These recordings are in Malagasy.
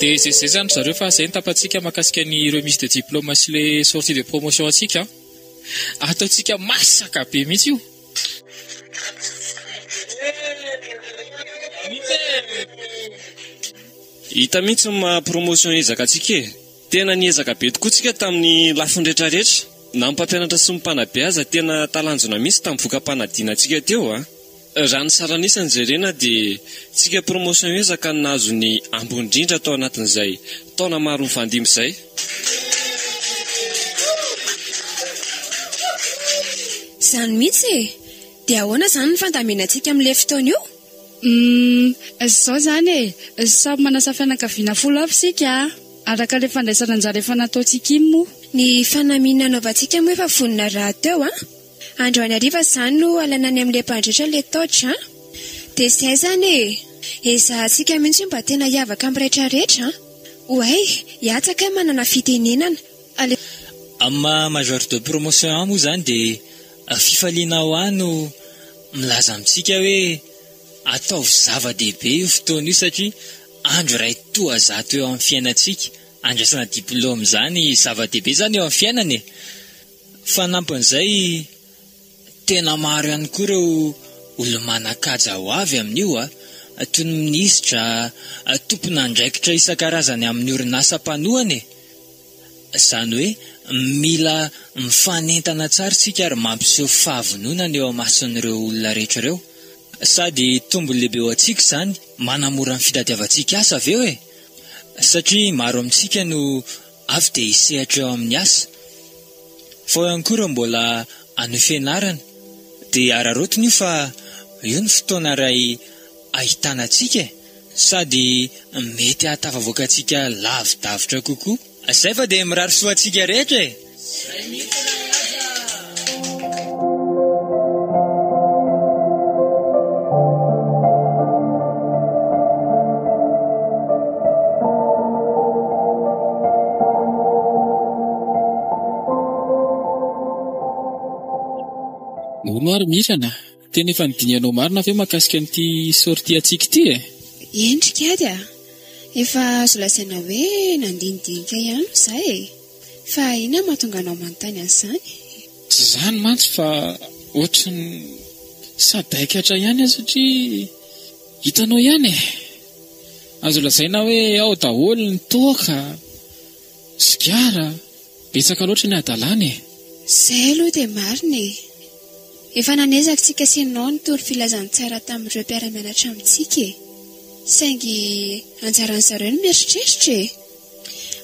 Dia izay izay izany ry zareo fa izay ny tapatsika mahakasika ny remise de diplôme sy ilay sortie de promotion antsika an. Ataontsika masaka be mihitsy io. Hita mihitsy ny maha promotion ezaka antsika e. Tena niezaka be tokoa tsika tamin'ny lafiny rehetra rehetra. Na ny mpampianatra sy ny mpanabe aza tena talanjona mihitsy tamin'ny voka-panadina antsika teo a! Raha ny saran'isa no jerena dia tsika promotion ezaka no nahazo ny ambony indrindra tao anatin'izay taona maro nifandimby izay. Izany mihitsy e! Dia ahoana izany ny fandaminantsika amin'ilay fotoana io? Humm zao zany e! Samy manasa fianakaviana folo avy isika araka ilay fandraisana anjara efa nataontsika iny moa. Ny fanamiana anaovantsika moa efa vonona rahateo an! Androany hariva izany no halaina any amin'ilay mpandrehitra ilay torche an! Dia izay izany e! Ezahantsika mihitsy hoe mba tena hiavaka amin'ny retraretra an! Oay! Hiatsa kay manana fitenenana! Aleo. Amin'ny maha major de promotion ahy moa izany dia. Fifaliana ao ahy no milaza amintsika hoe ataovy zava-dehibe io fotoana io satria andro iray toa zato eo amin'ny fiainantsika. Andraisana diplaoma izany zava-dehibe izany eo amin'ny fiainana e! Fanampin'izay, tena maro ihany koa ireo olo-manan-kaja ho avy amin'io a! toy ny minisitra, tompon'andraikitra isan-karazany amin'ny orinasa mpanohana e! Izany hoe mila mifanentana tsara isika ary mampiseho fahavononana eo imason'ireo olona rehetra ireo. Sady tombony lehibe ho antsika izany, manamora ny fitadiavantsika asa avy eo e! satria maro amintsika no avy dia hisehatra eo amin'ny asa. Fa ao ihany koa ireo mbola hanohy fianarana, dia araraotiny io fa io ny fotoana iray ahitana antsika e! sady mety hahatafavoaka antsika lavidavitra kokoa zay fa dia mirary soa antsika rehetra e! Nahoana ary Mirana? Tena efa nidinihanao marina ve mahakasika an'ity sortie antsika ity e? Eny ry kiady a! Efa azo lazaina hoe nandinidinika ihany hoy za e! Fa inona no mahatonga anao manontany an'izany? Tsy izany mantsy fa ohatran'ny sadaikatra ihany aho satria hitanao ihany e! Azo lazaina hoe ao daholo ny toaka. Sigara? Betsaka loatra ny hadalana e! Izay aloha dia marina e! Efa nanezaka tsika sy nao ny toro filazantsara tamin'ireo mpiara-mianatra amintsika e! Saingy anjaran'ny zareo ny mieritreritra e!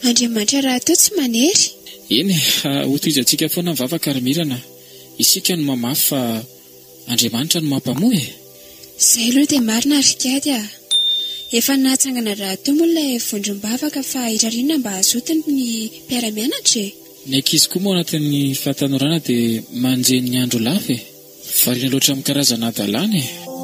Andriamanitra rahateo tsy manery! Eny e! Hotohizantsika foana ny vavaka ry Mirana! Isika no mamafy fa Andriamanitra no mampamoa e! Zay aloha dia marina ry Kady a! Efa nahatsangana rahateo moa ilay vondrom-bavaka fa hirariana mba hazotiny ny mpiara-mianatra e! Ny ankizy koa moa anatin'ny fahatanorana dia manjeny ny andro lava e! Variana loatra amin'ny karazana hadalana e!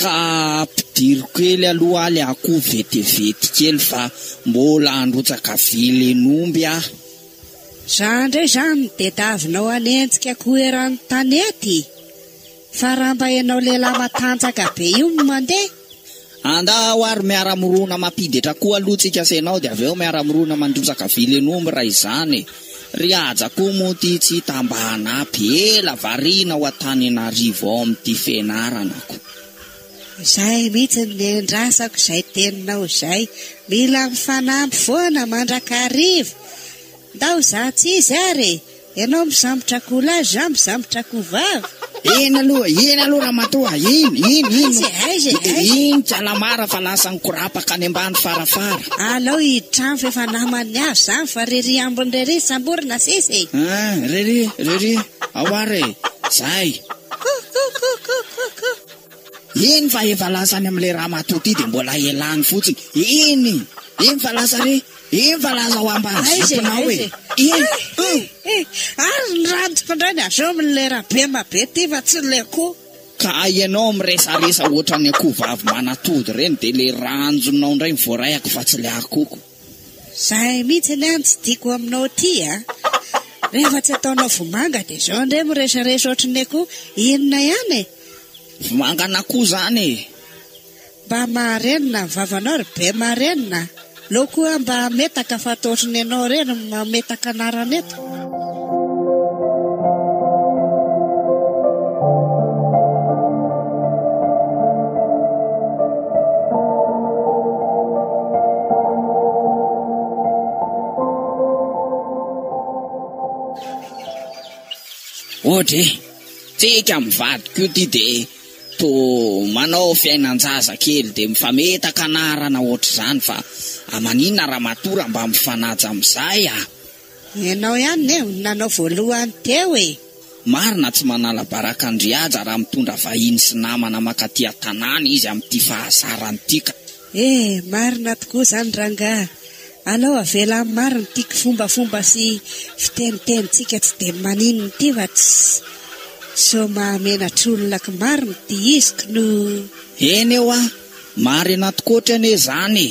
Ka ampidiro kely aloha aly akoho vetivety kely fa mbola handrotsaka vilin'omby aho. Za ndray zany de davinao hanenjika akoho eran'ny tanety fa raha mba enao lehilahy matanjaka be io no mandeha. Andao ary miara-mirona mampiditra akoho aloha tsika sy enao de avy eo miara-mirona mandrotsaka vilin'omby raha izany e. Ry Haja koa moa ty tsy hita mba hanapy, ela variana ao Antanenarivo ao amin'ity fianaranako. Izay mihitsy ny nendrasako izay teninao izay, mila mifanampy foana mandrakariva. Ndao za tsy izy ary e! Ianao misambotra akoholahy, za misambotra akohovavy. Eny aloha, eny aloha ramatoa, eny, eny, eny. Aiza, aiza, e, aiza? Iny Tsalamara fa lasa nikorapaka any ambany farafara. Alao hitrano fa efa naman'ny azy izany fa rery ambiny rery samborina sisa e. Ah, rery, rery, ao ary e, zay. Kouh, kouh, kouh, kouh, kouh, kouh. Eny fa efa lasa any amin'ilay ramatoa ity dia mbola elany fotsiny. Eny! Eny fa lasa re! Eny fa lasa ao ambany ziponao e! Eny! Eny! Ary ny rantiko indray ny avy eo amin'ilay rabema be ity fa tsy ilay akoho. Ka ianao miresaresa ohatran'ny akoho vavy manatody ireny dia ilay ranjonao indray no voaraiako fa tsy ilay akohoko. Zay mihitsy anie no tsy tiako aminao ity a! Rehefa tsy ataonao vomanga dia izao indray miresaresh ohatry ny akoho inona ihany e! Vomanga an'akoho izany e! Mba marenina ny vavanao ry be marenina a! Aleo koa mba hametaka fa ataotry ny ianao ireny mametaka anarana eto. Ohatra e, tsika amin'ny vadiko io ty de to manao fiainan-jaza kely de mifametaka anarana ohatr'izany fa aman'inona ramatoa raha mba mifanaja amin'izay a! Ianao ihany ne no nanao voalohany teo e! Marina tsy manala baraka an-dry Haja raha mitondra vahiny sy namana makaty an-tanàna izy amin'ity fahazarany ity ka. E! Marina tokoa izany rangahy. Alao avela amin'ny marina ity kifombafomba sy fitenitenintsika tsy dia maninona ity fa tsy sao mahamenatr'olona ko marina ity izy ko no. Eny ewa, marina tokoa ôtry anie izany e!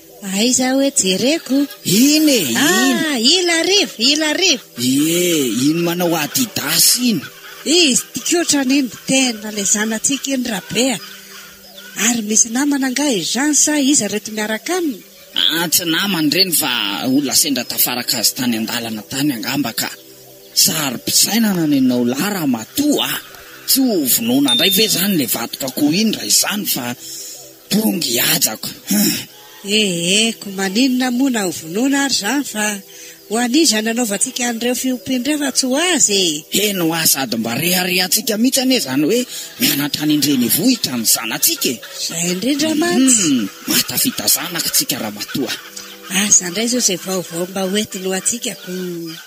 Aiza hoe jereko? Iny e! Iny! Ah, il arrive, il arrive! Ie, iny manao Adidas iny! Izy ty kotrany iny tena le zanatsika iny Rabe a! Ary misy namana angaha i Jean sa iza ireto miaraka aminy? Ah, tsy namany ireny fa olona sendra tafaraka azy tany an-dalana tany angamba ka! Saro-pisainana ny anao lahy ramatoa a! Tsy ho vonoina indray ve izany le vatok'akoho iny raha izany fa. Pongy hajako huh. Eeheko, maninona moa na ho vonoina ary izany fa ho an'iza nanaovantsika an'ireo fiompiana ireo fa tsy ho azy e! Heno hoa sady mba reharehantsika mihitsy anie izany hoe mianatra any an-drenivohitra ny zanatsika e! Izay indrindra mantsy! Hum, mahatafita zanaka tsika ramatoa! Asa indray izao izay vaovao mba hoentiny ho antsika ko!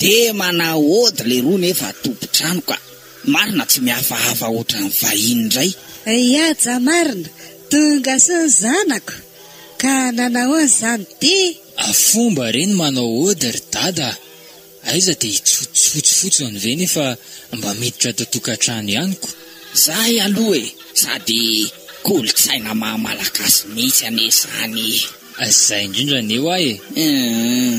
De manaod leroa nefa tompon-trano ka. Marina tsy mihafahafa otran'ny vahiny indray. Ay aja marina, tonga soa ny zanako, ka nanahoana izany dia. Fomba re ny manao ody ry dada a! Aiza dia hitsotsotsy fotsiny ve nefa mba miditra ato an-tokantrano ihany ko! Zay aloha e! Sady kolontsaina maha malagasy mihitsy anie zany e! Zay indrindra anie hoa e! Eehh.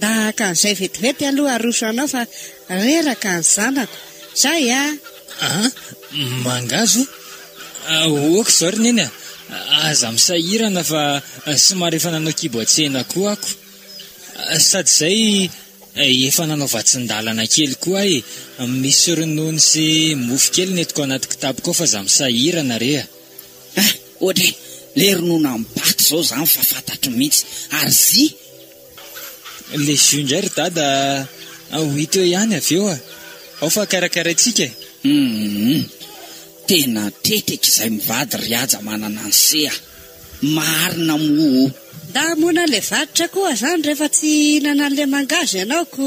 Tahaka an'izay vetivety aloha aroso anao fa reraka ny zanako. Zay a! Aa! Mangahazo a! Ok zao ry neny a! Aza misahirana fa somary efa nanao kibo an-tsena koa ako. Sady zay efa nanao vatsin-dalana kely koa aho e! Misy ronono sy mofo kely nentiko anaty kitapoko ao fa aza misahirana re a! Ah! Ohatra e! Le ronono am-bato zao zany fa fantatro mihitsy. Ary zy Le jus ndray ry dada a, ho hita eo ihany avy eo a, ao fa karakaraintsika e. Hum, tena teteky izay mivady ry haja manana an'i se a, marina moa o. Ndà moana le varotra koa zany rehefa tsy hihinana an'le mangahazo ianao ko.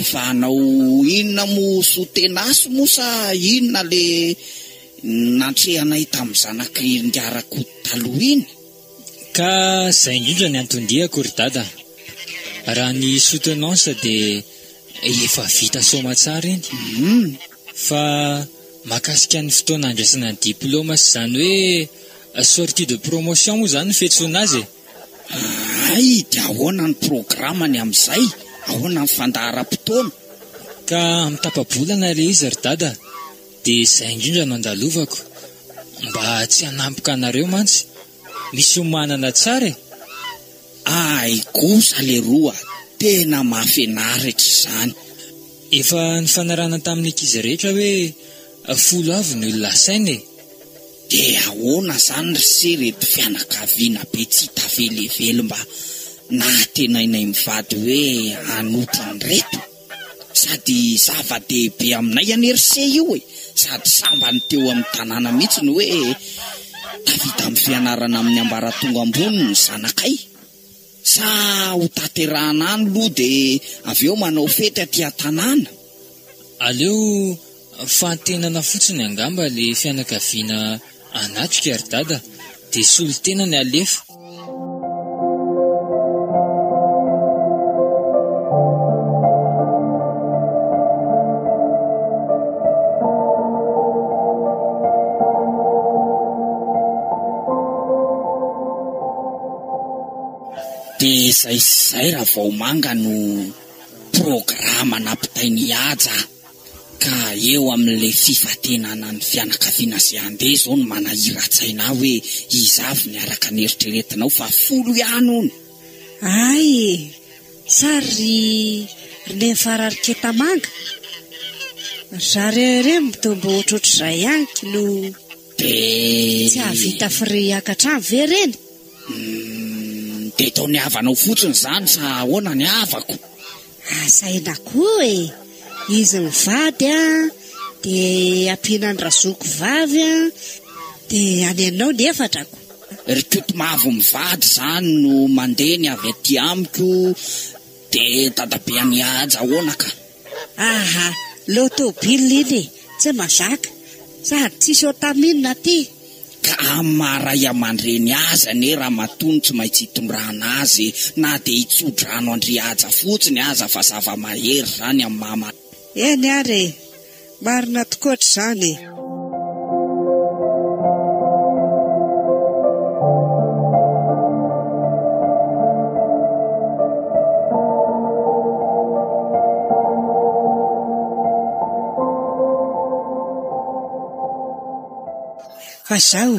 Efa hanao inona moa soa tenace moa sa inona le nantrehanay tamin'ny zanak'i Ngaraku taloha iny? Ka zay indrindra ny anton-diako ry dada a! Raha ny soutenance dia efa vita soamatsara iny. Hum! Fa mahakasika ny fotoana handraisana ny diploma sy izany hoe sortie de promotion moa izany no fiantsoana azy e! Ahay dia ahoana ny programany amin'izay? Ahoana ny fandaharam-potoana? Ka amin'ny tapa-bolana ilay izy ry dada dia izay indrindra no andalovako mba tsy hanampoka anareo mantsy misy homanana tsara e! Ahay kosa leroa tena mahafinaritra izany. Efa nifanarahana tamin'ny ankizy rehetra hoe Folo avy ny olona asaina e! De ahoana zany ry se reto fianakaviana be tsy hita velively mba nahatenainay mivady hoe hanotra an'ireto? Sady zava-dehibe aminay anie ry se io e! Sady sambany teo amin'ny tanàna mihitsy ny hoe tafita amin'ny fianarana amin'ny ambaratonga ambony ny zanakay. Sa ho taterahana any loha de avy eo manao fety aty an-tanàna? Aleo fahantenana fotsiny angamba le fianakaviana anatrika ry dada de solontena ny alefa. Dia izay sy izay Ravaomanga no programa nampitain'i Haja ka eo amin'ilay fifantenana ny fianakaviana sy andeha izao ny manahiran-tsaina ahy hoe iza avy ny araka ny eritreretinao fa folo ihany hono. Ay e! Sa ry ry Nenfarary Ketamanga? Ry zareo ireo mitoa mba ohatrohatr'izay ihany k'lou. Dia. Tsy hahavita frais hiakatra any ve ireny? Hum, dia tao ny havanao fotsiny izany sa ahoana ny havako? Asa aina koa e! Izy mivady an, dia ampiana ny razoko vavy an, dia any anao ny efatrako. Ry Kotomavo mivady izany no mandeha ny avy aty amiko, De dadabe an'i Haja ahoana ka? Aha, leo tôbily iny e, tsy mazaka, sady tsisy ôtamine aty. Ka amin'ny maha ray amandreny azy anie ramatoa no tsy maintsy hitondrana azy e, na dia hitsodrano an-dry Haja fotsiny aza fa zava-mahery izany amin'ny maha malagasy. Eny ary e! Marina tokoa ry zany e. Fa zao.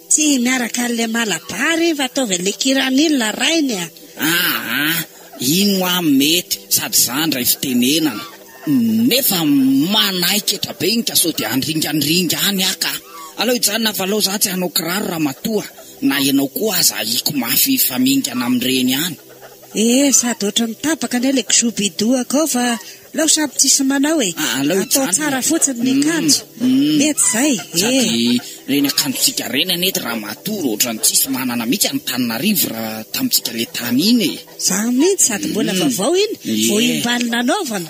Tsy miaraka an'ilay Malabar izy fa ataovy an'ilay Kiranil ilay rainy a! Aa! iny hoa mety sady za ndray fitenenana nefa manaiky etra be iny ka sao dia handringandringa any aho ka! Aleo hijanona valao za tsy hanao kiraro ramatoa na ianao koa aza ahiko mafy hifamingana amin'ireny any! Ee, sady ohatran'ny tapaka anie ilay kzobidoo akao fa aleo samy tsisy manao e. Ah, aleo hijanona. Atao tsara fotsiny ny akanjo. Mety izay. Ee. Sady ireny akanjontsika ireny anie ety ramatoa ohatran'ny tsisy manana mihitsy an'Antananarivo raha tamintsika ilay tany iny e. Izany mihitsy, sady mbola vaovao iny, vao Ie. imbaly nanaovana.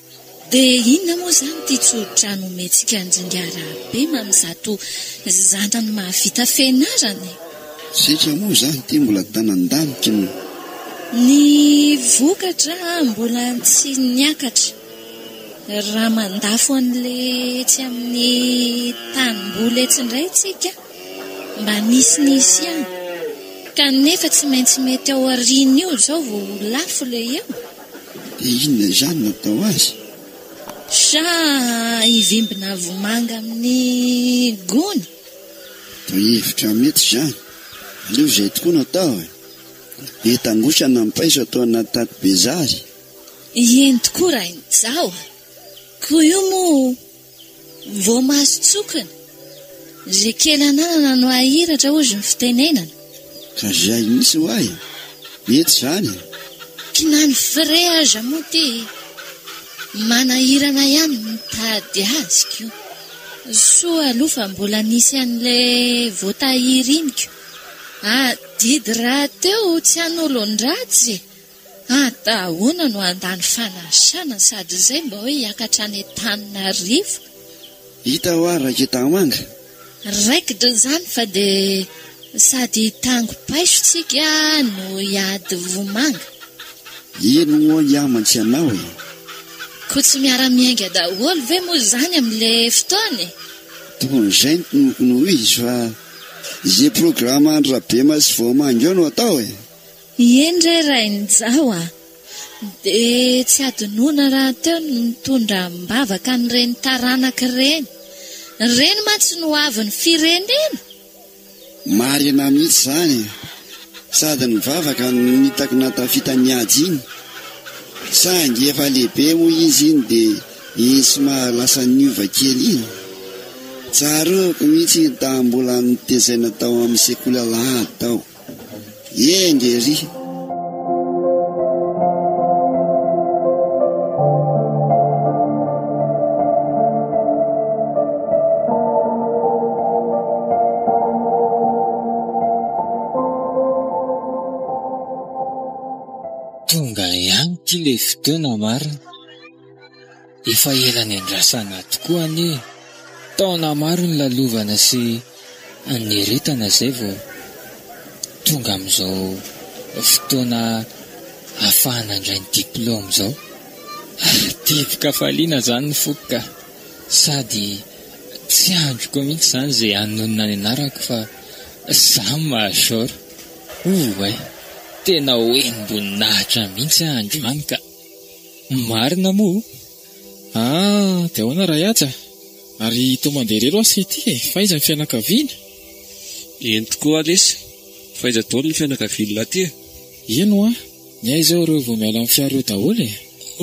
Dia inona moa izany ity tsodrano omentsika an-dRingahy Rabema amin'izato zanany mahavita fianarana e? Setra moa izany ity mbola tanan-daniky ny. Ny vokatra mbola tsy niakatra. Raha mandafo an'ilay etsy amin'ny tanimboly etsy indray tsika, mba nisy nisy ihany. Kanefa tsy maintsy mety ao aorian'io izao vao ho lafo ilay eo. Dia inona izany no atao azy? Sa hivimbina vomanga amin'ny gony? Dia hevitra mety izany. Aleo izay tokoa no atao e! Be tangosana ny paiso atao anaty taty be zary. Eny tokoa rainijaho a! Koa io moa Vao mahazo tsokina. Izay kely ananana no ahiratra hozy ny fitenenana. Ka zay mihitsy ho ahy. Mety izany e. Ky na ny frais aza moa ty manahirana ihany mitady azy ko. Soa aloha fa mbola nisy an'le voatahiry iny ko. Adidy rahateo tsy hanolon-dratsy e. Ata ahoana no handany fanasana sady izay mba hoe hiakatra any Antananarivo? Hita hoa Raiketahomanga. Raikitra izany fa dia sady hitango paiso tsika no hiady vomanga. Eny hoa hiaman tsy anao e. Koa tsy miara miainga daholo ve moa izany amin le fotoana e? Tokony izay no tnokony ho izy fa izay programa andry Rabema sy Voamangy eo no atao e. Ieny re Rain'ijaho a! Dia tsy hadinoina rahateo ny mitondra am-bavaka an'ireny taranaka ireny. Ireny mantsy no hoavin'ny firenena! Marina mihitsy izany e! Sady ny vavaka no hitako nahatafita an'i Haja iny. Saingy efa lehibe moa izy iny dia iny somary lasa niova kely iny. Tsaroako mihitsy iny tamin'ny mbola nitezaina tao amin'ny sekoly alahady tao. Ee nge ery. Tonga ihany ity le fotoana marina. Efa ela niandrasana tokoa anie e! Taona maro nilalovana sy nieritana izay vao tonga amin'izao fotoana ahafahana handray ny diplaoma izao. Tiako kafaliana izany ny foko ka! Sady tsy andriko mihitsy izany izay hanonona ny anarako fa izaho no major. Ouai! Tena ho enim-boninahitra mihitsy aho androany ka! Ny marina moa? Ah, dia ahoana raha hihaja a? Ary toa mandeha irery ho'a sy ity e! Fa iza ny fianakaviana? Eny tokoa lesy, fa iza daholo ny fianakavian'lah ity e? Eny ho'a, ny ahy izao ireo vao miala amin'ny fiara eo daholo e!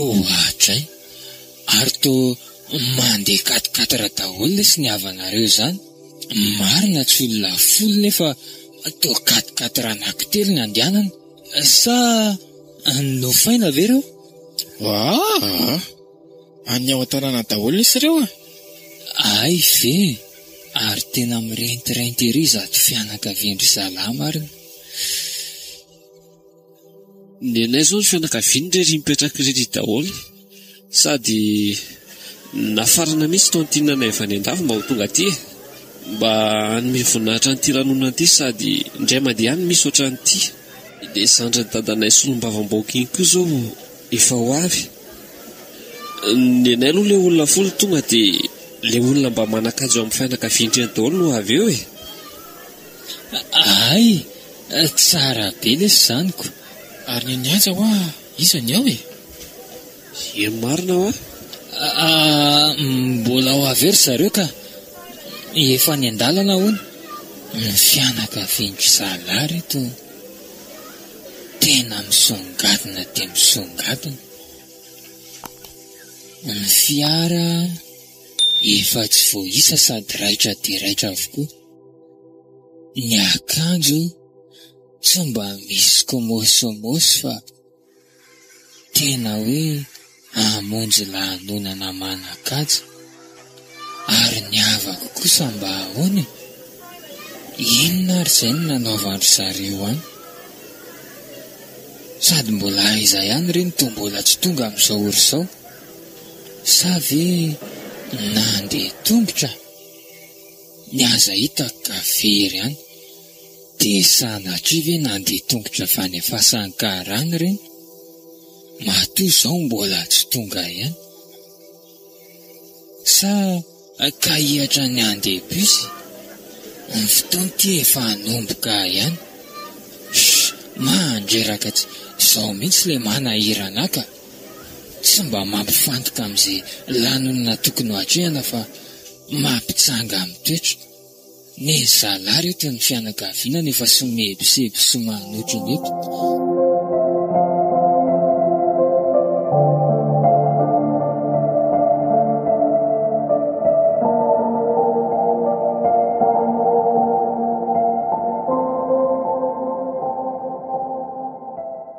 Oadray! Ary toa mandeha quatre quatre daholo lesy ny havanareo izany? Marina tsy olona folo nefa toa quatre quatre anankitelo ny andehanana? Sa nofaina ve ireo? Aa! Any ao an-tanàna daholo lesy ireo a! Hay ve! Ary tena mirentirainty ery izato fianakavian-dry zalahy marina. Ny anay izao ny fianakaviany irery mipetraka irery daholo. Sady nafarana mihitsy itony tinana efa any andafy mba ho tonga aty e! Mba hanome voninahitra an'ity lanonana ity sady indray mandeha any misy ohatran'ity. Ilay zandrin'i dadanay solombavambahoaka iny koa izao efa ho avy. Ny anay aloha ilay olona folo tonga dia ilay olona mba manan-kaja eo amin'ny fianakavian-dry eny daholo no avy eo e! Hay! Tsara be lesy izany ko! Ary ny an'i Haja hoa? Iza ny ao e? Iem marina hoa. Aa mbola ho avy eo ry zareo ka. Efa any an-dalana hono. Ny fianakavian'dry zalahy ry reto tena misongadina dia misongadina. Ny fiara efa tsy voaisa sady raitra dia raitra avokoa. Ny akanjo. Sa mba misy kômôsômôsy fa tena hoe hamonjy lanonana manan-kaja? Ary ny havako kosa mba ahoana e? Inona ary izay no nanaovan-dry zareo an? Sady mbola aiza ihany re ny tombola tsy tonga amin'izao ora izao? Sa ve nandeha tongotra? Ny aza hitako ka very any. Dia sanatria ve nandeha tongotra fanefasan karana ireny? Matoa izao mbola tsy tonga ihany? Sa ka hihatra ny handeha bus? Ny fotoana ity efa hanomboka ihany. Shh! Mandreraka tsy izao mihitsy ilay manahirana ka! Tsy mba mampifantoka amin'izay lanonana tokony ho atrehina fa mampitsanga amin'ny toetra. Ny zalahy ry eto ny fianakaviana no efa sy mihebosebo sy manota eny eto.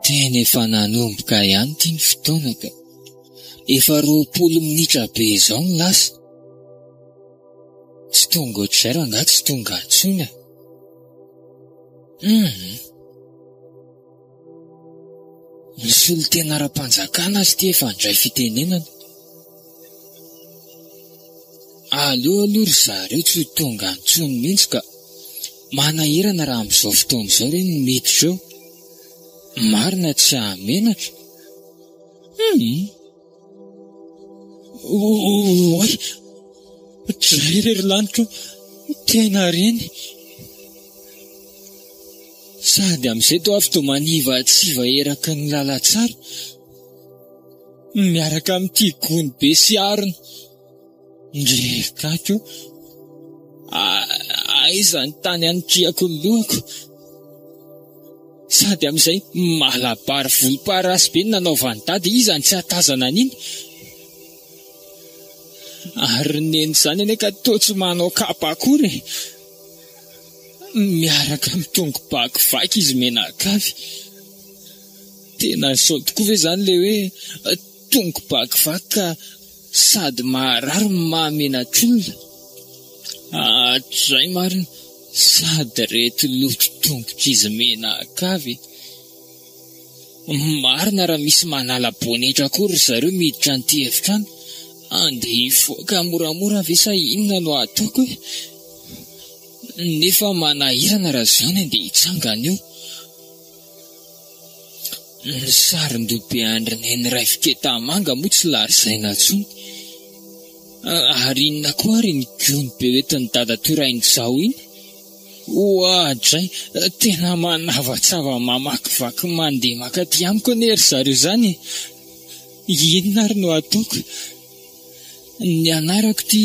Tena efa nanomboka ihany ity ny fotoana ka. Efa roapolo minitra be izao no lasa. Tsy tonga ohatr'izay rangahy tsy tonga intsony e. Hum. Ny solontena ara-panjakana azy ity efa handray fitenenana. Aleo aloha ry zareo tsy ho tonga intsony mihitsy ka. Manahirana raha amin'izao fotoana izao re ny miditra eo. Marina tsy hahamenatra. Hum. Oay! Ohatrizay re ry lanitra ô! Tena reny! Sady amin'izay toa avy dia manivatsiva eraky ny lalantsara, miaraka amin'ity gony be sy harona. Ndry gaga o! Aiza ny tany anitriako ny lohako? Sady amin'izay malabar volomparasy be nanaovan'i dada, iza no tsy hahatazana an'iny? Ary ny neny izany anie ka toa tsy manao kapa akory e! Miaraka amin'ny tongo-ba kivaky izy menakavy. Tena izao tokoa ve izany ilay hoe tongo-ba kivaky ka Sady maharary no mahamenatr'olona. Hatrizay marina, sady reto lotry tongotr'izy menakavy. Marina raha misy manala bonetra koa ry zareo miditra an'ity efitrano. Andeha hifoaka moramora ve sa inona no ataoko e? Nefa manahirana raha izany andeha hitsangana eo. Ny sarin-dobe andry neny iray fiketah manga moa tsy lazaina tsony. Ary inona koa ary iny gony be hoentin'i dadatoa Rainizao iny? Oadray! Tena manavatsava mamakivaky mandeha mankaty amiko anie ry zareo izany e! Inona ary no ataoko? Ny anarako ity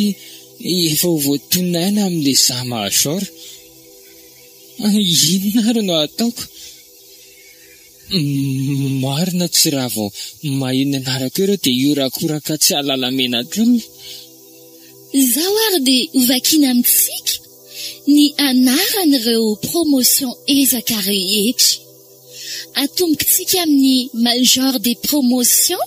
efa ho voatonona aina amin'ilay za major. Inona ary no ataoko? Marina tsy raha vao maheno ny anarako eo reo dia hiorakoraka tsy hahalala mena kely. Izao ary dia hovakina amintsika ny anaran'ireo promotion ezaka rehetra. Atombokintsika amin'ny major des promotions.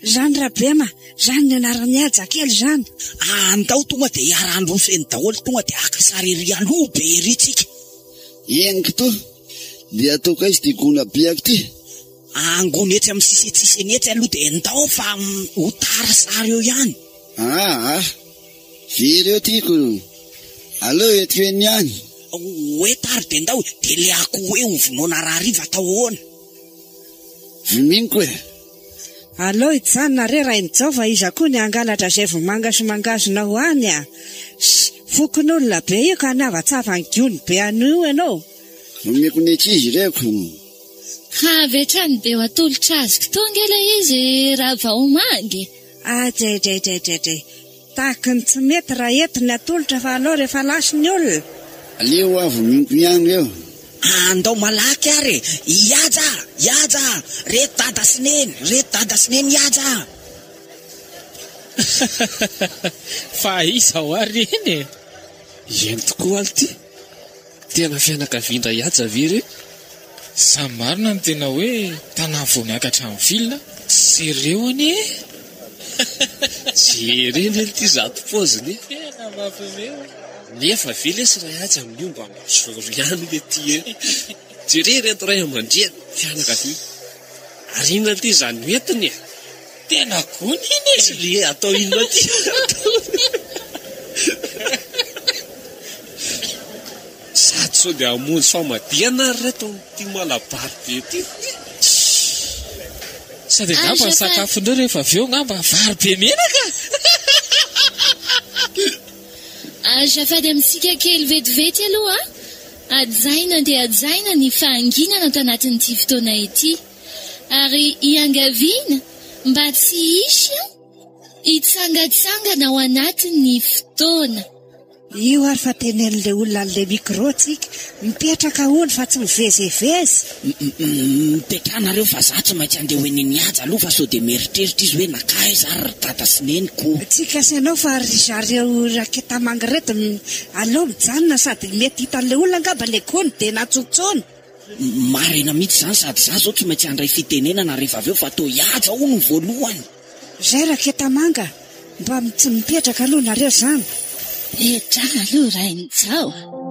Zany Rabrema zany ny anarany haja kely izany. Ah andao tonga dia hiara-handro feno daholo tonga dia haka sary ery aloha be ery tsika. Eny kto, dia ataoko aiza ity gona biako ity? Angona etsy amin'ny sisentsiseny etsy aloha dia ndao fa ho tara sary eo ihany. Ah ah, very eo tiako, aleo eto eny ihany. Hoe tary dia ndao, dia le akoho hoe ho vonoina rahariva atao ahoana? Viniko e. Aleo hijanona re Rainijao fa iza koa ny hangalatra izay vomanga sy mangahazo nao any a! Sy fokonolona be io ka nihavatsafa ny gony be an'io io ianao. Omeko ny ankizy ireko. Ha avy hatrany dia ho atolotra azoko toa ange ilay izy raha vao omangy e! Ajajajaja. Tahaka ny tsy mety raha eto ny atolotra fa aleo rehefa lasa ny olona. Aleo avy miompy ihany reo. Andao malaky ary e! Ihaja! Ihaja! Reto dada sy neny! Reto dada sy neny ihaja! Fa aiza ho'a reny e! Eny tokoa alo ty! Tena fianakavian-dra Ihaja ve ireo? Sa marina ny tena hoe tanà vao miakatra amin'ny ville? Seréo anie e! Jereo lé ity zato pause lé! Tena mampiomehy ô! Nefa ve lesy ra Ihaja miomba am bozoro ihany lé ty e! Jereo ireto ray aman-dreny, fianakaviana! Ary inona lé izany hoentiny e! Tena gony iny e! Tsy le atao inona aty Sady sao dia hamonjy famadihana ary reto amin'ity malabary be ity Sady angamba ny sakafon'ireo rehefa avy eo angamba vary be menaka Azafady amintsika kely vetivety aloha a! Hajaina dia hajaina ny fahanginana tanatin'ity fotoana ity. ary iangaviana mba tsy hisy hitsangatsangana ao anatin'ny fotoana. Io ary fa tenen'ilay olona an'ilay micro tsika, mipetraka hono fa tsy mivezevezy. Mipetrahanareo fa za tsy maintsy andeha ho eny an'i Haja aloha fa sao dia mieritreritra izy hoe nankaiza ary ry dada sy neniko. Tsy gasy ianao fa ry zareo raketamanga ireto no aleo mijanona sady mety hitan'ilay olona angamba ilay gony dia natsotsony. Marina mihitsy izany sady za zao tsy maintsy handray fitenenana rehefa avy eo fa toa ihaja hono voalohany. Zay raketamanga mba tsy mipetraka aloha nareo zany. Petraha aloha Rainijao a!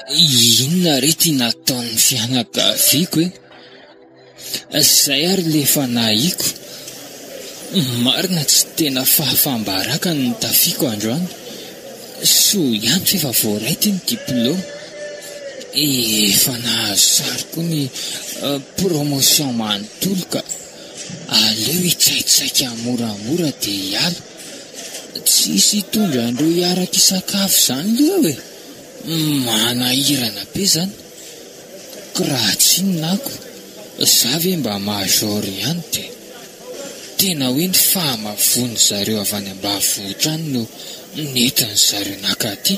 Inona re ty nataon'ny fianakaviako e? Zay ary le efa nahiko. Marina tsy tena fahafam-baraka ny nitafiako androany. Soa ihany f'efa voaray ty ny diploma. Efa nahazo sary koa ny promotion manontolo ka. Aleo hitsaitsaika moramora de hiala. Tsisy hitondra an'ireo hiaraka hisakafo zany leo e! Manahirana be zany ko raha tsinona ako za ve mba major ihany de tena hoe ny fahamavoan zareo avy any ambavohitra any no nentin zareo naka aty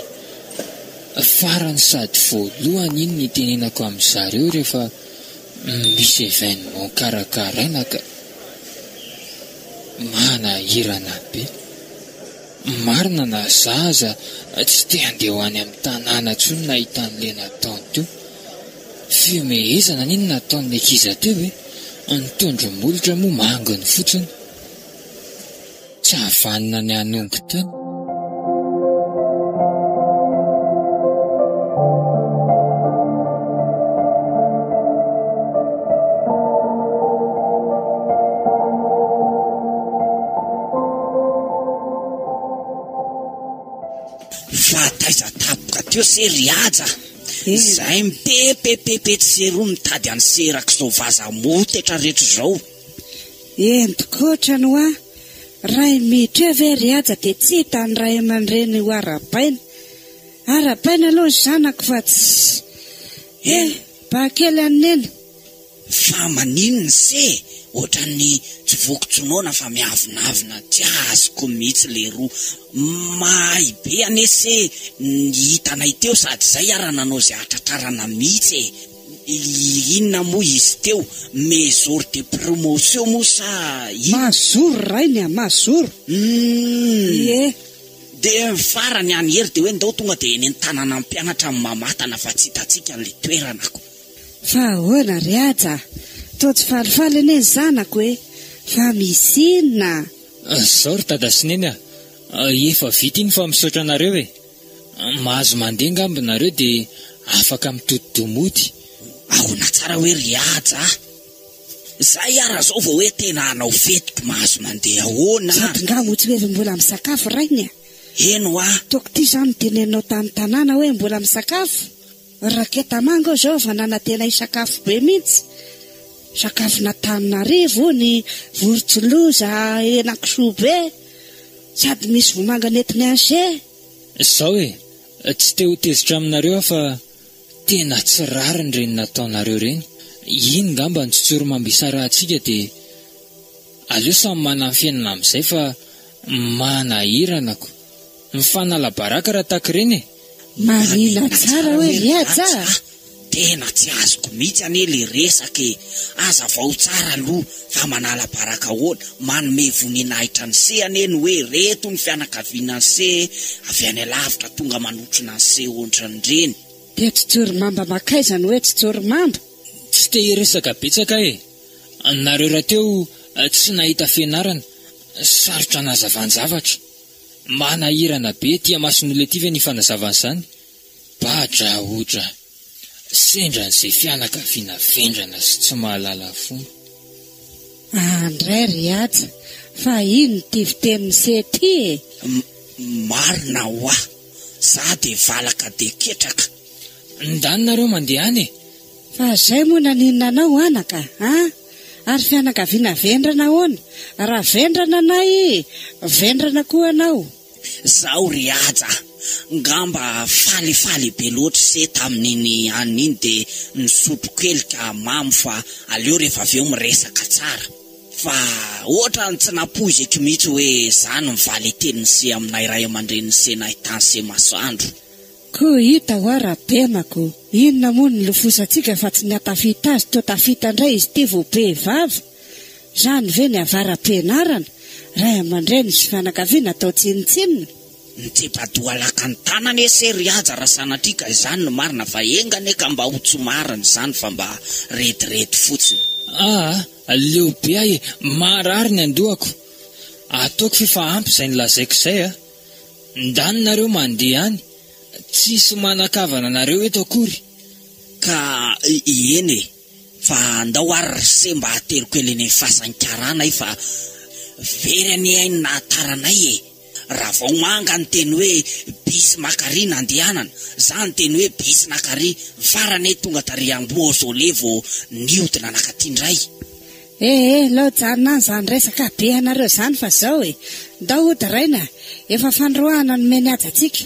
farany sady voalohany iny nitenenako amin zareo rehefa misy evenement karakaraina ka manahirana be. Marina na za aza tsy te handeha ho any amin'ny tanàna intsony nahita an'le nataony teo. Fihomehezana anie no nataon'ny ankiza teo e! Ny tondro-molotra moa manginy fotsiny. Tsy havanona ny hanongo tena. Fa taiza tapoka teo se ry Haja a! Izay mipepepepe etsy sy eroa mitady an'i Serak'izao vaza motetra rehetra izao. Ento koatra ny hoa! Ray miditra eo ve ry Haja dia tsy hita ny ray aman-dreny ho arabaina. Arabaina aloha ny zanako fa tsy. Eh! Bakely an'i Neny. Fa manin nse otrany tsy voky tsy noana fa miavonavona tsy azoko mitsy leroa mahay be anie se ny hitanay teo sady zay ara nanao ze atratrarana mitsy e inona moa izy teo me jour de promotion moa sa in Mazoro rainy a! Mazoro! Humm! Ie! De ny farany any hery de hoe ndao tonga de eny an-tanana mpianatra mamatana fa tsy hitantsika le toerana ko! Fa ahoana ry Haja a! Toa tsy falifaly anie ny zanako e! Fa misy inona a! Zao ry Dada sy Neny a! Efa vita iny fa misaotra anareo e! Mahazo mandeha angamba nareo dia afaka mitodi-doha mody. Ahoana tsara hoe ry Haja a! Zay ara zao vao hoe tena hanao fety ko mahazo mandeha ahoana a! Sady nga moa tsy hoe mbola misakafo rainy a! Eny hoa! Toa k'ity zany no teneninao tany tanàna hoe mbola misakafo? Raketa manga aho izao vao nanantena hisakafo be mihitsy, sakafon'Antananarivo ony, vorontsiloza, henakisoa be, sady misy vomanga nentin'i Anse. Zao e, tsy te ho tezitra aminareo aho fa tena tsy rariny reny nataonareo reny, iny ngamba ny tsotsorimambo isarahantsika de aleo samy mananfenina amizay fa manahiranako, mifanalabaraka raha taky reny e. Marina tsara hoe ry Aja a! Tena tsy azoko mihitsy anie ilay resaka e! Hazavao tsara aloha fa manala baraka ahoana? Manome voninahitra an'i se anie ny hoe ireto ny fianakavianan'i se avy any alavitra tonga manotrona an'i se hoatran'ireny. Dia tsy jorimamba makaiza ny hoe tsy jorimamba? Tsy te hiresaka betsaka aho e! Nareo rahateo tsy nahita fianarana, sarotra anazavan-javatra. Manahirana be ety Mason'olona ety ve ny fanazavana izany? Badraodra! Sendran'izay fianakaviana vendrana sy tsy mahalala fomba. Aa ndray ry Haja fa ino ity fiteny miseho ity e? Marina hoa! Za dia valaka dia ketraka. Ndany nareo mandeha any e! Fa zay moa naninona anao anaka a? Ary fianakaviana vendrana ahoana? Raha vendrana anay, vendrana koa anao. Zao ry Haja a! Ngamba falifaly be loatra se tamin'iny anona iny dia nisotro kely ka mamo fa aleo rehefa avy eo miresaka tsara. Fa ohatrany tsy nampoiziko mihitsy hoe zany ny valin-tenin'i se aminay ray aman-drenin'i se nahitany se masoandro. Ko hita hoa ra tena ko. Inona moa ny lofosantsika fa tsy ny hatafita azy toa tafita ndray izy ity vao be vava? Zany ve ny avara-pianarana? Ray aman-dreny sy fianakaviana atao tsinontsinona? Mitsipa-doha lakan-tana anie se ry Haja raha sanatria ka izany no marina fa enga anie ka mba ho tsy marina izany fa mba rediredy fotsiny. Aa! Leo be ahy e! Marary ny andohako! Ataoko ve fa ampy izay nolazaiko izay a! Ndany nareo mandeha any tsisy manakavana anareo eto akory ka eny e fa ndao ary ry se mba ateriko eny anie fasan'ny karana e fa very anie ainy nahataranay e raha vao manga ny teny hoe bus makary nandehanana za ny teny hoe bus nakary ny farany e tonga tary ambohosolé vao niodina nakaty ndray Eh eh lao janona an zany resaka be anareo zany fa zao e! ndao hody raina efa fanoroahana no meny haja tsika,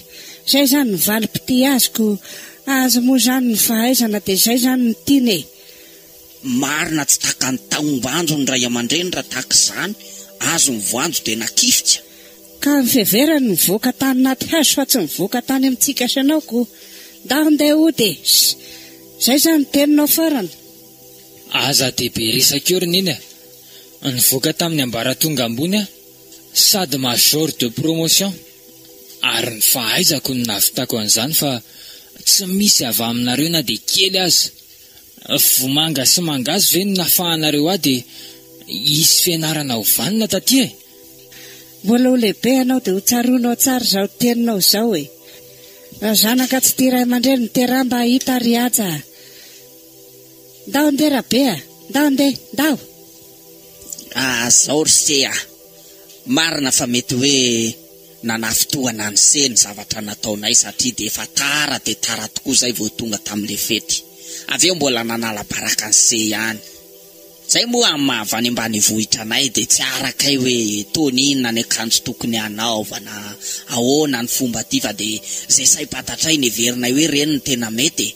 zay zany ny valy mpitia azy ko azy moa zany ny fahaizana de zay zany no tiany e! Marina tsy takany taombanjo ny ray amandreny raha tahaka izany azo ny voanjo dia nakifika. Ka ny fiheverany nivoaka tany naty hazo fa tsy nivoaka tany amintsika sy anao ko. Ndao ndeha hody e! Ssy! Zay zany ny teninao farany. Aza dia be resaka eo ry Neny a! Nivoaka tamin'ny ambaratonga ambony aho sady major de promotion ary ny fahaizako no nahavitako an'izany fa tsy misy avy aminareo na dia kely aza! Vomanga sy mangahazo ve no nafahanareo ahy dia hisy fianarana ho vanona taty e? Mbola ho lehibe ianao dia hotsaroanao tsara izao teninao izao e! Raha zanaka tsy tia ray aman-dreny, miteraha mba hahita ry Haja a! Ndaho ndeha Rabe a! Ndaho ndeha! Ndaho! Ah zao ry se a! Marina fa mety hoe nanafintohana an'i se ny zavatra nataonay satria dia efa tara dia tara tokoa izay vao tonga tamin'ilay fety. Avy eo mbola nanala baraka an'i se ihany. Izay moa amin'ny maha avy any ambanivohitra anay dia tsy arakay hoe toa inona ny akanjo tokony hanaovana, ahoana ny fomba aty fa dia izay saim-pantatray neverinay hoe ireny no tena mety e!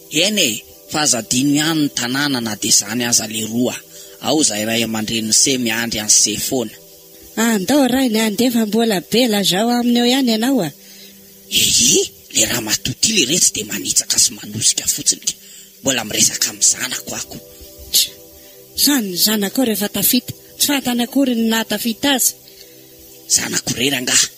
Eny e! fa aza adino ihany ny tanàna na dia izany aza leroa a! ao izahay ray aman-drenin'i se miandry an'i se foana. Ah ndao rainy a! ndeha fa mbola be lazao aminy eo ihany ianao a! Ehe! le ramatoa ity le retsy dia manitsaka sy manosika fotsiny ka! mbola miresaka amin'ny zanako ako! Tch! sa ny zanakao rehefa tafita tsy fantany akory ny nahatafita azy? Zanako irery angaha?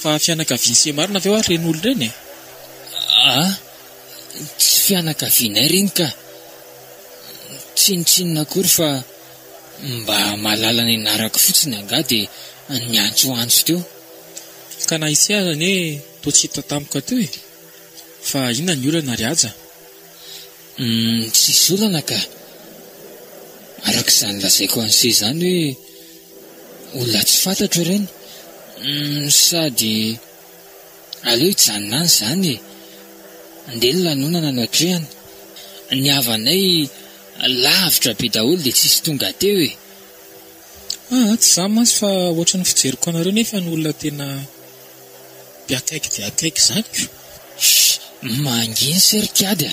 Fa fianakavian'i Semarina ve ho'aho ireny olona ireny e? A! tsy fianakavianay ireny ka! Tsinontsinona akory fa mba mahalala ny anarako fotsiny angaha dia niantsoantso teo. Ka na ise aza anie toa tsy hita tampoka teo e! Fa inona ny olana ry Haja? Humm tsisy olana ka! Araka izany lazaiko an'se izany hoe olona tsy fantatro ireny humm sady aleo hijanona any izany e! Andeha ny lanonana no atrehina, ny havanay lavitra be daholo dia tsisy tonga teo e! Aa tsy izany mantsy fa ohatran'ny fijeriko anareo nefa ny olona tena. De akaiky de akaiky zany ko. Sh, manginy se ry kiady a!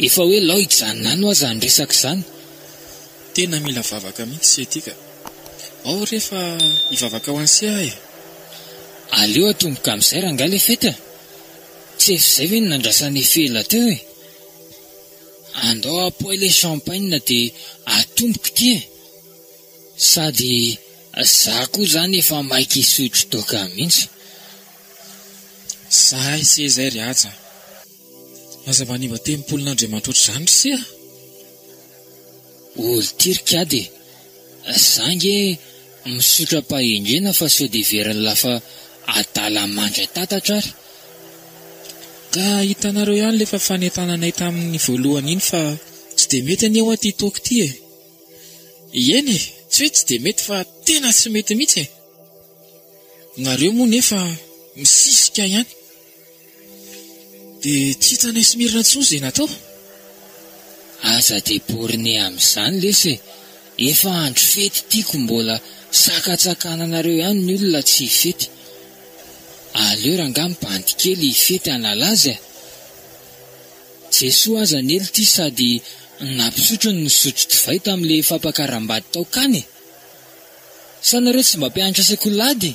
Efa hoe lao hijanona any hoa zany resaka zany. Tena mila vavaka mihitsy se ty ka. Ao re fa hivavaka ho an'i se aho e! Aleo atomboka amin'izay rangahy le fety a! Tsy efa izay ve no nandrasan'i Fela teo e! Andao apoay le champagne de atomboka ity e! Sady za koa zany efa maika hisotro toaka mintsy. Zahay se zay ry Haja a. Aza manimba tempolin'Andriamanitra ohatr'izany ry se a! Olo ty ry kiady e! Za nge misotro am-pahendrena fa sao dia very lafa adala mandray tatatra ary. Ka hitanareo ihany ilay efa fanentananay tamin'ny voalohany iny fa tsy dia mety anie hoa ity toaka ity e! Ieny e, tsy hoe tsy dia mety fa tena tsy mety mihitsy e! Nareo moa nefa misisika ihany. Dia tsy hitanay sy Mirina intsony izay natao. Aza de borne amin'izany lesy e, efa andro fety tiako mbola sakatsakananareo ihany ny olona tsy hifety. Aleo rangahy mibandy kely hifety hanala azy e! Jesoa aza nely ity sady nampisotro ny nisotro divay tamin'ilay fampakaram-bady tao Kana e! Sa nareo tsy mba mpianatra sekoly ady?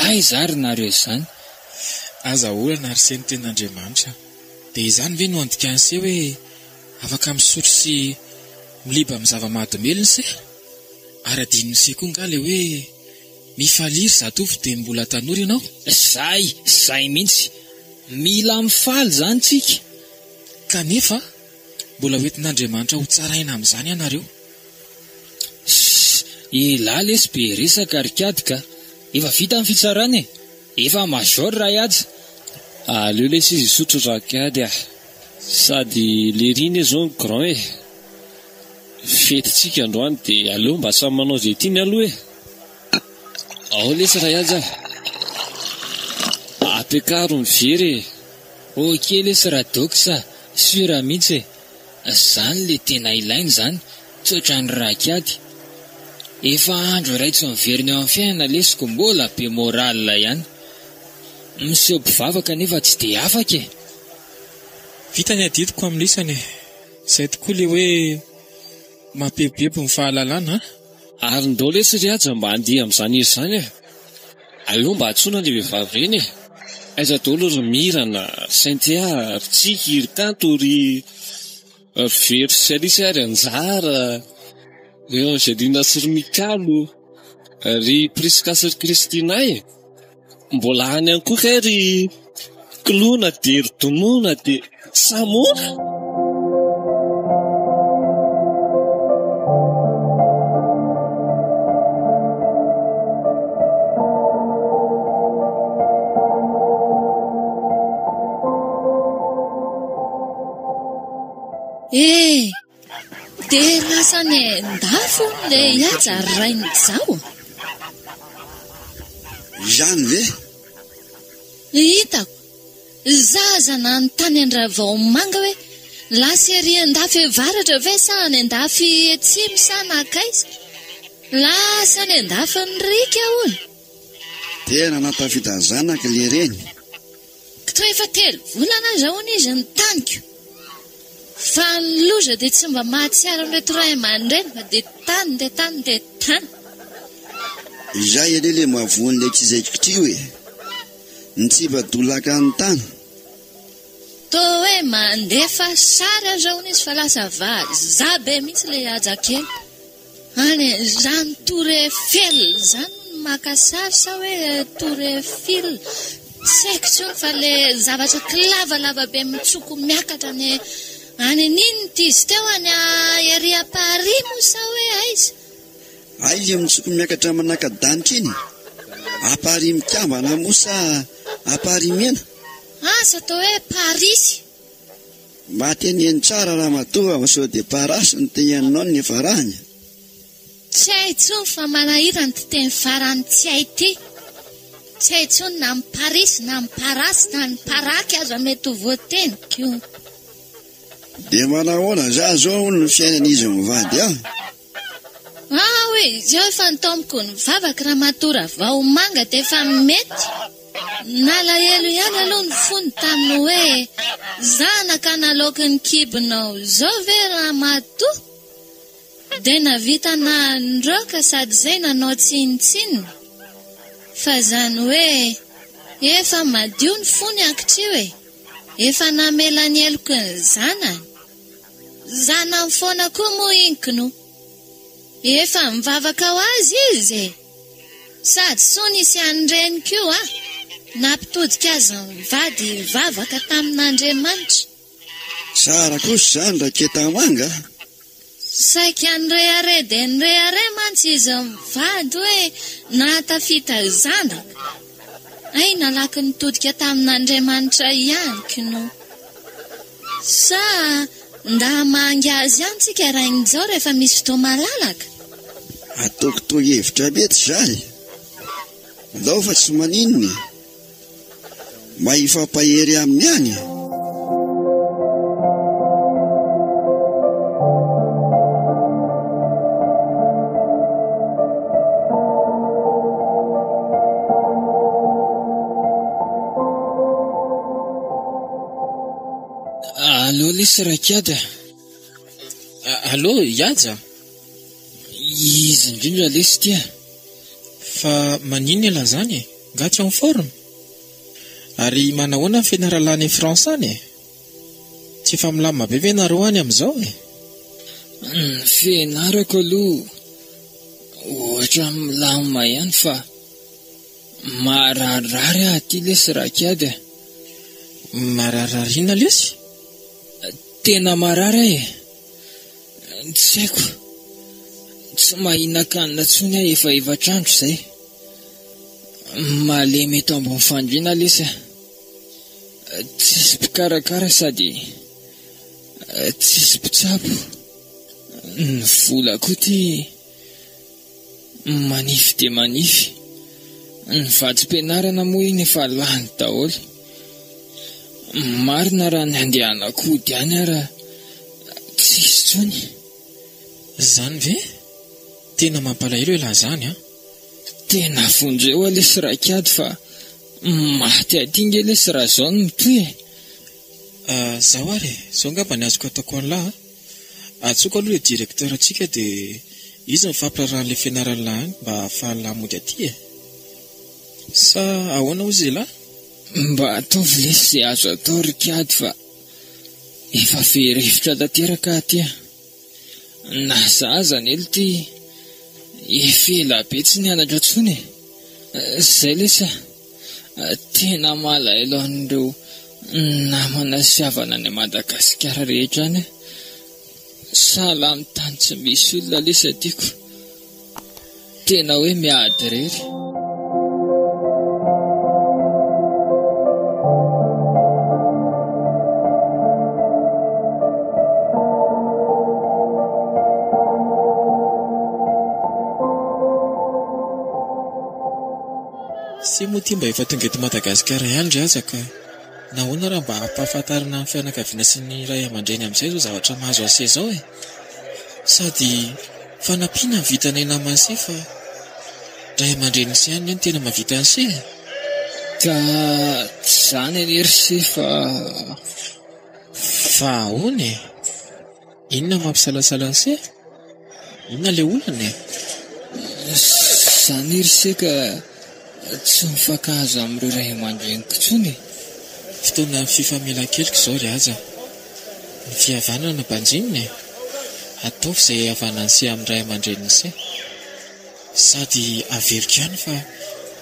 Aiza ary nareo izany? Aza olana ary se ny ten'Andriamanitra dia izany ve no andikany se hoe afaka misotro sy miliba amin'ny zava-mahadomelina se? Ary adinony se koa nga le hoe Mifalia ry zatovo dia mbola tanora ianao. Zay, zay mihitsy. Mila mifaly zany tsika. Kanefa mbola ho entin'Andriamanitra ho tsaraina amin'izany ianareo. Ssss elah lesy be resaka ry kiady ka! Efa vita ny fitsarana e! Efa major raha ihaja! Aleo lesy izy hisotro ra kiady ah! Sady lery iny zao ny grand e! Fety tsika androany de aleo mba samy manao izay tiany aloha e! Ao lesy ray aja a! Ampiakaro ny very e! Ok lesy ra dox a! Sur mihitsy e! Zany le tena ilaina zany, tsy otran'ny raha kiady. Efa andro iray tsy miverina eo amin'ny fiainana lesy ko mbola be moral ihany. Miseho mpivavaka nefa tsy de afaka e! Vita ny adidiko amin'ny lisany e! Zay tokoa le hoe mapebebo ny fahalalana an! Ary ndao lesy ry Haja mba handihy amin'izany izy izany e! Aleo mba antsoina le vehivavy ireny e! Aiza daholo ry Mirana, ry Cynthia, ry Tsiky, ry Kanto, ry very sy Alice, ry Anjara, ry Angelina sy ry Mikalo, ry Prisca sy ry Kristina e! Mbola any ihany koa kay ry klou na dia ry donou na dia samoa. Eh! Dia lasa any an-dafy hono ilay Ihaja ry Rainizao? Ihany ve? Hitako. Izaho aza nanontany an-dRavaomanga hoe lasa ery an-dafy avaratra ve sa any an-dafy atsimo sa nankaiza? Lasa any an-dafin'ny riaka hono. Dia nanatafidany zanaka ilay reny. Toa efa telo volana izao hono izy no taniko. Fa ny loza dia tsy mba mahatsiaro an'ireto ray aman-dreny fa dia tany dia tany dia tany. Izay anie ilay mahavoa an'ilay tsy zaiko ty hoe, ny tsy mba dolaka hanontana. Toa hoe mandefa sary aza hono izy fa lasa vazaha be mihitsy ilay haja kely. Any e, izany Tour Eiffel izany no maka sary sa hoe Tour Eiffel? Tsy haiko intsony fa le zavatra kilavalava be mitsoko miakatra any any an'inona ity izy teo any a ery à Paris moa sa hoe aiza? Ay le mitsoko miakatra manaka-danitra iny e. À Paris mikambana moa sa à Paris mena? Asa atao hoe Parisy. Mba teneno tsara ramatoa fa sao dia parasy no te hihaninao ny farany a! Tsy hay intsony fa manahirana ity teny farany tsy hay ity. Tsy hay intsony na ny parisy na ny parasy na ny paraky aza mety ho voateniko. Dia manahoana za zao hono ny fiainan'izy mivady an? Ah hoe izy eo efa ntomiko ny vavaka ramatoa Ravahomanga dia efa mety. Nalahelo ihany aloha ny fony tamin'ny hoe zanaka naloaky ny kibonao izao ve ramatoa? Dia navita nandroaka sady izay nanao tsinontsinona. Fa izany hoe efa madio ny fony ankitrio e! Efa namela ny heloky ny zanany. Zanany foana koa moa iny knou efa mivavaka ho azy izy e! Sady soa nisy an'i reny koa nampitodika azy mivady hivavaka tamin'Andriamanitra. Tsara kosa izany Raketa Manga a! Saika nirehare dia nirehare mantsy izy mivady hoe nahatafita zanaka. Hay nalaky nitodika tamin'Andriamanitra ihany knou. Sa ndà hamangy azy ihany tsika Rainizao rehefa misy fotoa malalaka? Ataoko toa hevitra mety za e! Ndao fa tsy maninona e! Mba hifampahery aminy ihany e! Allo lesy Rakiady a! Allo Ihaja a! Izy indrindra lesy ity a! Fa maninona ialahy izany e? Nga tsy en forme? Ary manahoana ny fianaralana any France any e? Tsy efa milamina be ve ianareo any amin'izao e? Ny fianarako aloha ohatran'ny milamina ihany fa. Mararirary aho aty lesy raha kiady a! Mararirary inona lesy? Tena marary aho e! Tsy haiko, tsy mahinan-kanina intsony aho efa efatra andro izay. Malemy eto ambony fandriana lesy aho. Tsisy mpikarakara sady tsisy mpitsabo. Ny vola koa ity. Manify dia manify. Ny vatsim-pianarana moa iny efa lany daholo. Marina raha ny andehanako hody any ary tsisy intsony. Izany ve? Tena mampalahelo elah izany an! Tena vonjeo ah lesy raikady fa maty aty nge lesy raha izao no mitohy e! Izaho ary e! Izao angamba ny azoko ataoko anlah a! Antsoiko aloha le directeur tsika de izy mifampiraharaha anle fianaranlah any mba ahafahanlah mody aty e! Sa ahoana ozy elah? Mba ataovy lesy ze azo atao ry kiady fa efa very hevitra tanteraka aty an! Na za aza anie lty efa ela be tsy nianatra tsony e! Zay lesy a! Tena malahelo an'ireo namana sy havana any Madagasikara rehetra any aho. Salamo tany tsy misy olona lesa tiako. Tena hoe miady irery. Sia moa ity mba efa tonga eto Madagasikara ihany ry hazako a! Nahoana raha mba ampahafantarina ny fianakaviana sy ny ray aman-dreny amin'izay izao zavatra mahazo an'Sia izao e! Sady fanampiana ny vitanay naman'i Sia fa ray aman-dreniny Sia ihany no tena mahavita an'i Sia e! Ka tsy izany anie ry Sia fa fa ahoana e? Inona no mampisalasala an'i Seh? Inona ilay olana e? Izany ry Seh ka tsy mifankahazo amin'ireo ray aman-dreniko intsony e. Fotoanan'ny fifamelan-keloka izao ry Haja. Ny fihavanana banjinina e. Ataovy izay hihavanan'i Seh amin'ny ray aman-drenin'i Seh. Sady averiko ihany fa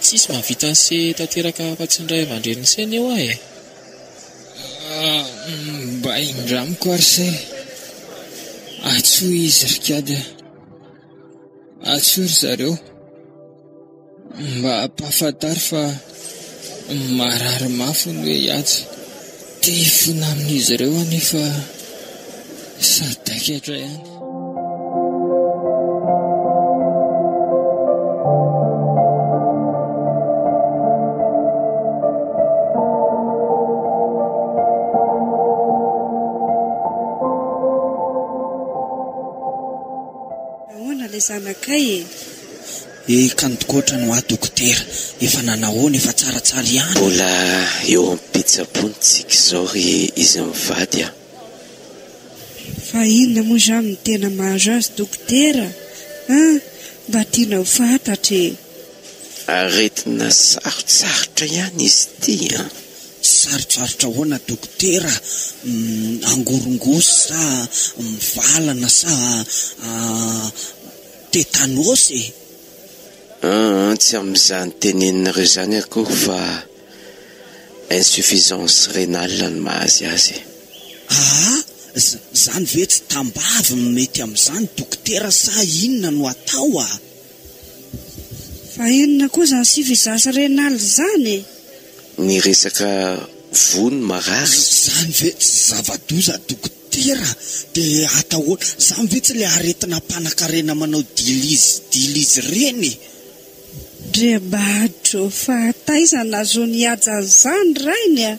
tsisy mahavita an'i Seh tanteraka afa-tsy ny ray aman-drenin'i Seh anie hoa e. Mba indramiko ary se Atso izy ry kiady a Atso ry zareo Mba ampahafantaro fa marary mafy hono hoe i Atsy Te hifona amin'izy ireo aho nefa sadaikatra ihany Kandokotra no ahy dokotera, efa nanahoana, efa tsaratsara ihany? Mbola eo am-pitsaboana tsika izao ry izy mivady a! Fa inona moa izany no tena mahazo azy dokotera a? Mba tiana ho fantatra e! Aretina sarotsarotra ihany izy ity an! Sarotsarotra ahoana dokotera? Angorongosy sa mivalana sa tetanosy e? Aa tsy amin'izany teneninareo izany akory fa. insuffisance rénale no mahazy azy. Aa! Zany ve tsy tambavy no mety amin'izany dokotera sa inona no atao a! Fa inona koa izany suffisance rénale izany e! Ny resaka voa no marary. Zany ve tsy zava-doza dokotera dia atao ahoana? Zany ve tsy ilay aretina mpanankarena manao dilizy dilizy ireny e! Dia mba adreo fa taiza nahazoany hihaja an'izany ny rainy a!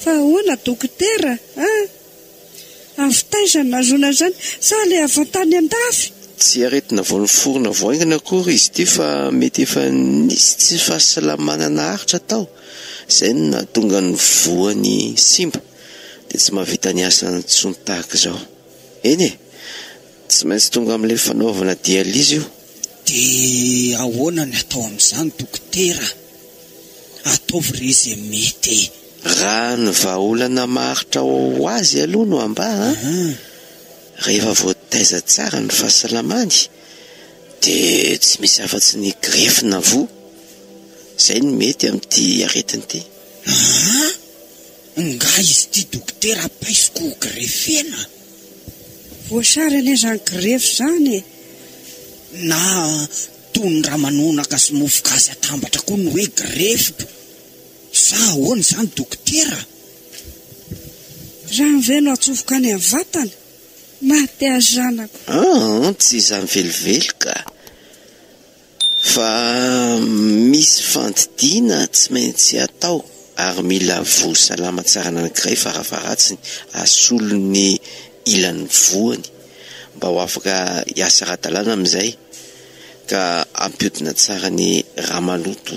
Fa ahoana dokotera a! Avy taiza nahazoany an'izany? Sa ilay avy tany an-dafy? Tsy aretina vao niforona vao haingana akory izy ity fa mety efa nisy tsy fahasalamana naharitra tao izay no nahatonga ny voany simba dia tsy mahavita ny asany intsony tahaka izao. Eny e! Tsy maintsy tonga amin'ilay fanaovana dialyse io. Dia ahoana ny atao amin'izany dokotera? Ataovy re ze mety e! Raha ny vahaolana maharitra ao ho azy aloha no ambara, rehefa voataiza tsara ny fahasalamany dia tsy misy afatsy ny grefy na voa, izay no mety amin'ity aretina ity. Aa! Nga izy ity dokotera paiso ko ho grefena? Voasary anie zany grefy zany e! Na toy ny ramanonaka sy mofo gasy atambatra koa ny hoe grefy p! Sa ahoana izany dokotera? Rano ve no atsofoka any amin'ny vatana? Maty ahy zanako. An! Tsy izany velively ka! Fa misy fandidiana tsy maintsy atao ary mila voa salama tsara anankiray farafaharatsiny asolo ny ilany voany mba ho afaka hiasa ara-dalàna amin'izay ka hampiodina tsara ny raha maloto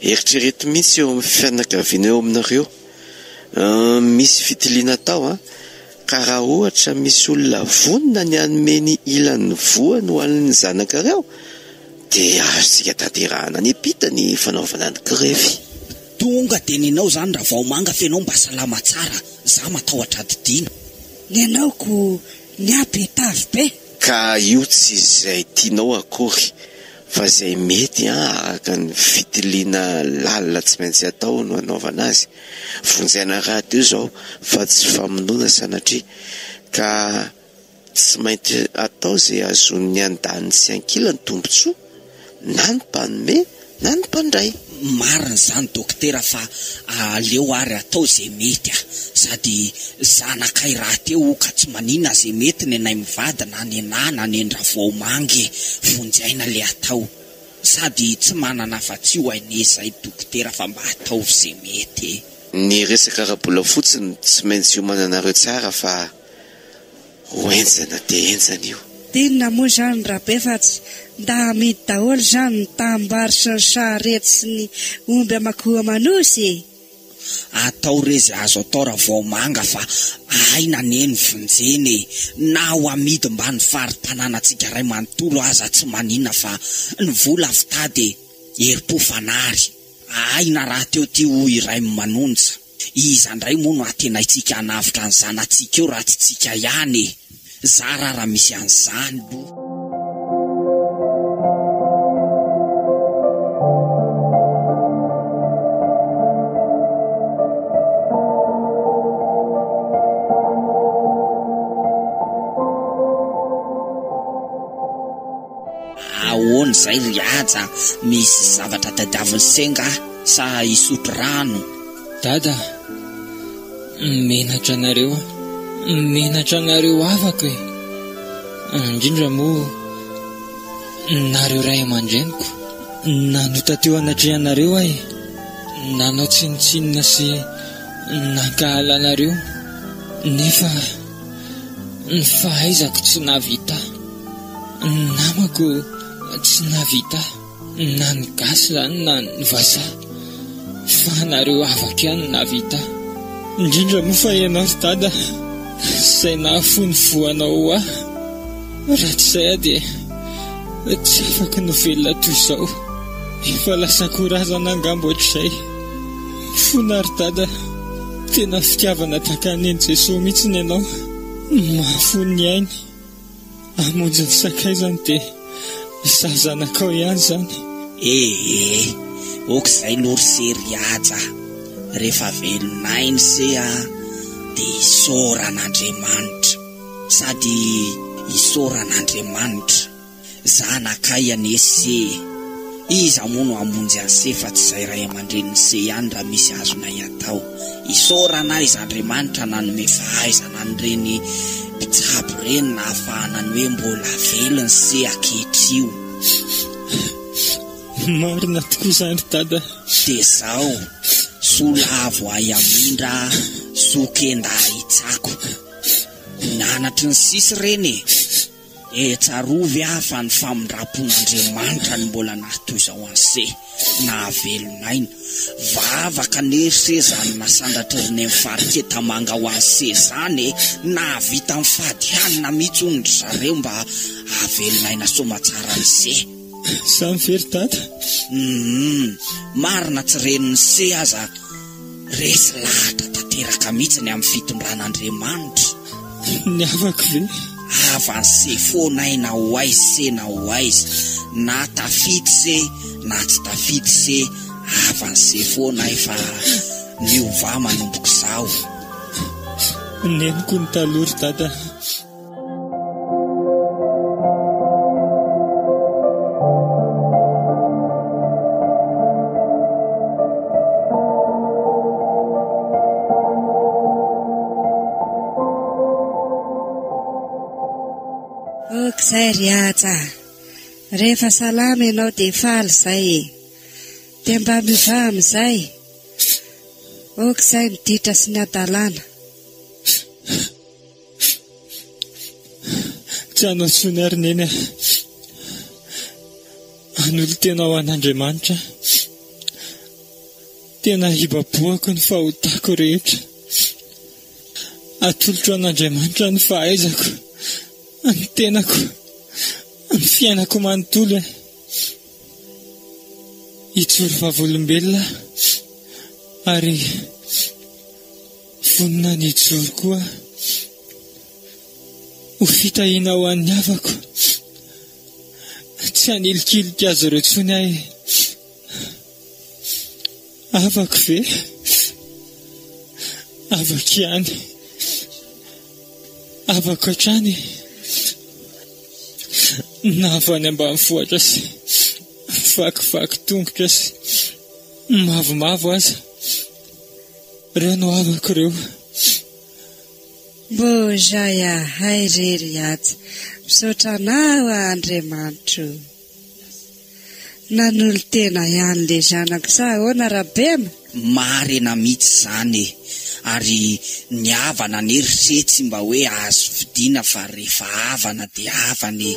Eritrereto mihitsy eo amin'ny fianakaviana eo aminareo misy fitiliana atao an! Ka raha ohatra misy olona vonona ny hanome ny ilany ny voany ho an'ny zanakareo dia azontsika tanterahana any am-pita ny fanaovana ny grefy. Tonga dia nenao zany Ravaomanga f'enao mba salama tsara za matahotra adidiana. Nenao ko ny ahy be tavy be. Ka io tsy izay tianao akory. Fa izay mety an, araka ny fitiliana lalina tsy maintsy atao no anaovana azy. Vonjena rahateo izao fa tsy famonoana sanatria. Ka tsy maintsy atao izay hahazoan'ny andaniny sy ankilany tombotsoa, na ny mpanome na ny mpandray. Marina izany Dokotera fa aleo ary atao ze mety a! Sady zanakay rahateo o ka tsy manina ze mety nenay mivady na nenah na nendravoaomangy e! Vonjy aina le atao sady tsy manana afatsy io aine zay Dokotera fa mba ataovy ze mety e! Ny resaka ara-bola fotsiny tsy maintsy iomananareo tsara fa ho enjana dia enjana io. D'inona moa izany Rabe fa tsy nda amidy daholo izany ny tanimbary sy ny sarety sy ny omby aman-ko aman-nosy e! Atao re izay azo atao Ravaomanga fa aina anie ny vonjena e! Na ho amidy mba ny fari-tanànantsika iray manontolo aza tsy maninona fa ny vola avy tady e! Herim-po fanary! Ahaina rahateo ity hoy iray manonja. Iza ndray moa no antenaintsika hanavotra ny zanatsika eo raha tsy tsika ihany e! Zara ary raha misy an'izany lo. Ahoana izay ry Haja a! Misy zavatra tadiavin'i Senga sa hisotro rano? Dada a, menatra anareo a, menatra anareo havako e, indrindra moa nareo ray aman-dreniko, nanota teo anatrehanareo aho e, nanao tsinontsinona sy nankahala anareo, nefa ny fahaizako tsy nahavita, ny namako tsy nahavita. Na ny gasy zany na ny vazaha fa nareo avaka ihany nahavita indrindra moa fa ianao ry dada izay nahafoy voanao ho ahy raha tsy izay aho dia tsy afaka no velona toy izao efa lasa akoho razana angamba ohatr'izay fona ry dada tena fitiavana tahaka ny an'i jesoa mihitsy ny ianao mahafoy ny ainy Hamonjy ny sakay zany de izaho zanakao ihany zany. Ee, ok izay aloha ry se ry haja, rehefa velonay ny se a, dia isaorana Andriamanitra, sady isaorana Andriamanitra, zanakay anie se e. Iza moa no hamonjy an'i Se fa tsy izay ray aman-drenin'i Se ihany raha misy azonay atao. Isaorana ahy Iz'Andriamanitra nanome fahaizana an'ireny mpitsabo ireny nahafahana ny hoe mbola velon'i Se akehitrioh. Marina tokoa izany Dada. Dia izao, soa lavo ahy hamindra, soa kenda ahy hitsako. Nanatry ny sisy ireny e! Ee, tsarovy aho fa ny famindram-pon'Andriamanitra no mbola nahatoy izao anse, nahavelona aina. Vavaka anefa se izany nasandratr'i Reneny Faritse Tamanga ho anse izany e! Nahavita nifady hanina mihitsy hono ry zareo mba hahavelona aina soamatsara an'ise. Samy very tata. Humm, marina tsy reniny se aza. Resy lahatra tanteraka mihitsy ny amin'ny fitondran'Andriamanitra. Ny havako ve? Avance foana ahy na ho aiz se na ho aiz, na tafity se na tsy tafity se, avance foana ahy fa miovà manomboka izaho. Neniko ny taloha ry dada. izay ry aja rehefa salama ianao dia faly izay e dia mba miva amin'izay oka izay ny ditra sy ny adalana Tsy hanao intsony ary Neny ah. Hanolotena ho an'Andriamanitra aho. Tena hibabohako ny fahotako rehetra. Atolotro an'Andriamanitra ny fahaizako, ny tenako, ny fiainako manontolo eh. Hijoro vavolombelona aho ary Vonona ny hijoro koa ho fitahiana ho an'ny havako. Tsy hanilikilika azy ireo intsony aho. Havako ve? Havako ihany. Havako hatrany. Na avy any ambanivohitra sy vakivaky tongotra sy mavomavo aza. Ireo no havako ireo. Mboja yahay irery atsy. Misaotra anao Andriamanitro. Nanolo tena ihany le zanako sa ahoana Rabema? Marina mitsy zany e, ary ny havana anie ry se tsy mba hoe azo fidiana fa refa havana de havana e.